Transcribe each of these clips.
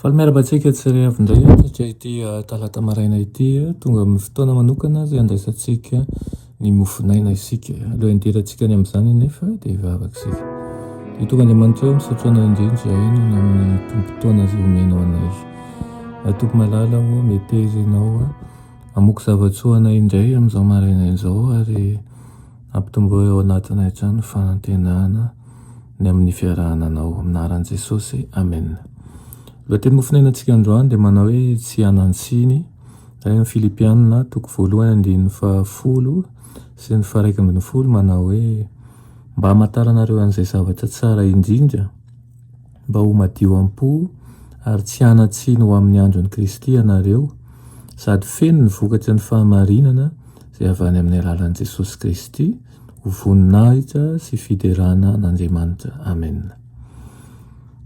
Faly miarahaba antsika tsirairay avy indray hatrany ity talata maraina ity. Tonga amin'ny fotoana manokana izay handraisantsika ny mofon'aina isika. Alohan'ny hidirantsika any amin'izany anefa dia hivavaka isika. Dia tonga Andriamanitra misaotra anao indrindra izay hanana amin'ny tombon-taona izay omenao anay. Tompo malala ô, meteza ianao, hamoaka zava-tsoa anay indray amin'izao maraina izao ary Ampitomboy ao anatinay hatrany ny fanantenana ny amin'ny fiarahana anao. Amin'ny anaran'i Jesosy, amena. Lohateny mofonainantsika androany dia manao hoe tsy hanan-tsiny. Ary amin'ny Filipianina toko voalohany andininy fahafolo sy ny faharaika ambin'ny folo manao hoe mba hamantaranareo an'izay zavatra tsara indrindra, mba ho madio am-po ary tsy hanan-tsiny ho amin'ny andron'i Kristy ianareo, sady feno ny vokatry ny fahamarinana izay avy any amin'ny alalan'i Jesosy Kristy ho voninahitra sy fiderana an'Andriamanitra. Amena.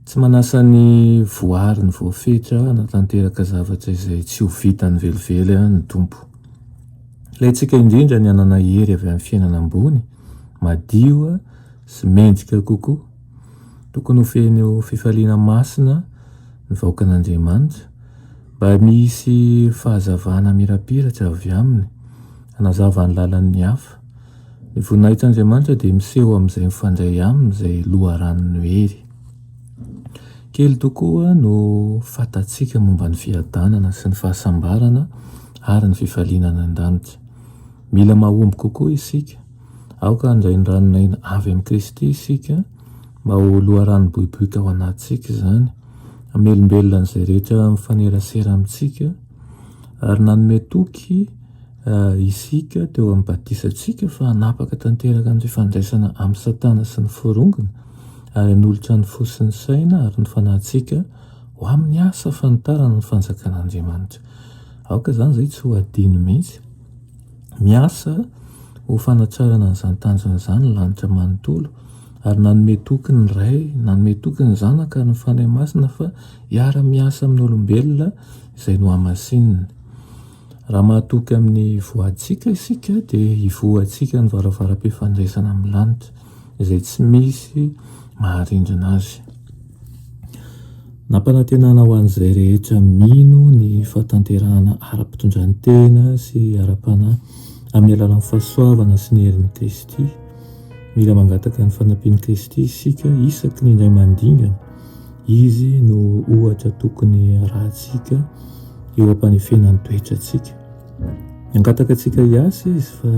Tsy manasa ny voariny voafetra hanatanteraka zavatra izay tsy ho vitany velively ny Tompo. Ilaintsika indrindra ny hanana hery avy amin'ny fiainana ambony, madio sy mendrika kokoa. Tokony ho feno eo fifaliana masina ny vahoakan'Andriamanitra mba misy fahazavana mirapiratra avy aminy hanazava ny lalan'ny hafa. Ny voninahitr'Andriamanitra dia miseho amin'izay mifandray aminy izay loharanon'ny hery. Kely tokoa no fantatsika momba ny fiadanana sy ny fahasambarana ary ny fifaliana any an-danitra. Mila mahomby kokoa isika. Aoka handray ny ranon'aina avy amin'i Kristy isika mba ho loharano boiboika ao anatintsika izany, hamelombelona an'izay rehetra mifanerasera amintsika, ary nanome toky isika teo amin'ny batisantsika fa hanapaka tanteraka ny fifandraisana amin'i Satana sy ny forongony, ary hanolotra ny fo sy ny saina ary ny fanahintsika ho amin'ny asa fanitarana ny Fanjakan'Andriamanitra. Aoka izany izay tsy ho adino mihitsy. Miasa ho fanatrarana an'izany tanjona izany ny lanitra manontolo ary nanome toky ny Ray, nanome toky ny Zanaka ary ny Fanahy Masina fa hiara-miasa amin'ny olombelona izay nohamasininy. Raha mahatoky amin'ny voantsika isika dia hivoha antsika ny varavaram-pifandraisana amin'ny lanitra. izay tsy misy maharindrina azy. Nampanantenana ho an'izay rehetra mino ny fahatanterahana ara-pitondrantena sy ara-panahy amin'ny alalan'ny fahasoavana sy ny herin'i Kristy. Mila mangataka ny fanampian'i Kristy isika isaky ny indray mandingana. Izy no ohatra tokony harahantsika eo am-panefena ny toetrantsika. Nangataka antsika hiasa izy fa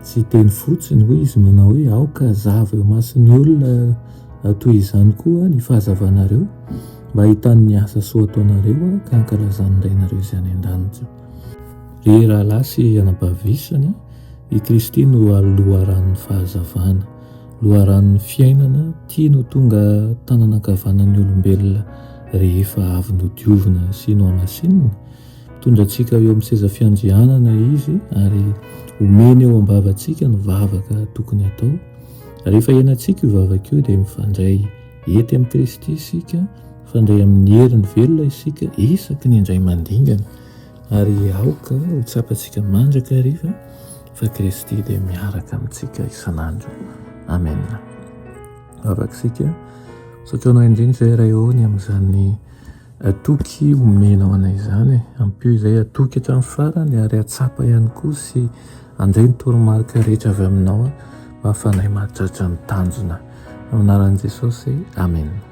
tsy hiteny fotsiny, hoy izy manao hoe aoka hazava eo imason'ny olona toy izany koa ny fahazavanareo mba hahitany ny asa soa ataonareo ka hankalazan'ny Rainareo izay any an-danitra. Ry rahalahy sy anabavy isany, i Kristy no loharanon'ny fahazavana, loharanon'ny fiainana tiany ho tonga tanana ankavanan'ny olombelona rehefa avy nodiovina sy nohamasinina, Hitondra antsika eo amin'ny seza fiandrianana izy ary omeny eo am-bavantsika ny vavaka tokony hatao. Rehefa henantsika io vavaka io dia mifandray hety amin'i Kristy isika, mifandray amin'ny heriny velona isika isaky ny indray mandingana ary aoka ho tsapantsika mandrakariva fa Kristy dia miaraka amintsika isan'andro. Amen. Vavaka isika. Saokanao indrindra izay Ray ô ny amin'izany Atoky omena ho anay izany e! Ampio izay atoky hatramin'ny farany ary atsapa ihany koa sy andray ny toromarika rehetra avy aminao aho mba hahafahanay mahatratra ny tanjona. Amin'ny anaran'i Jesosy, amena.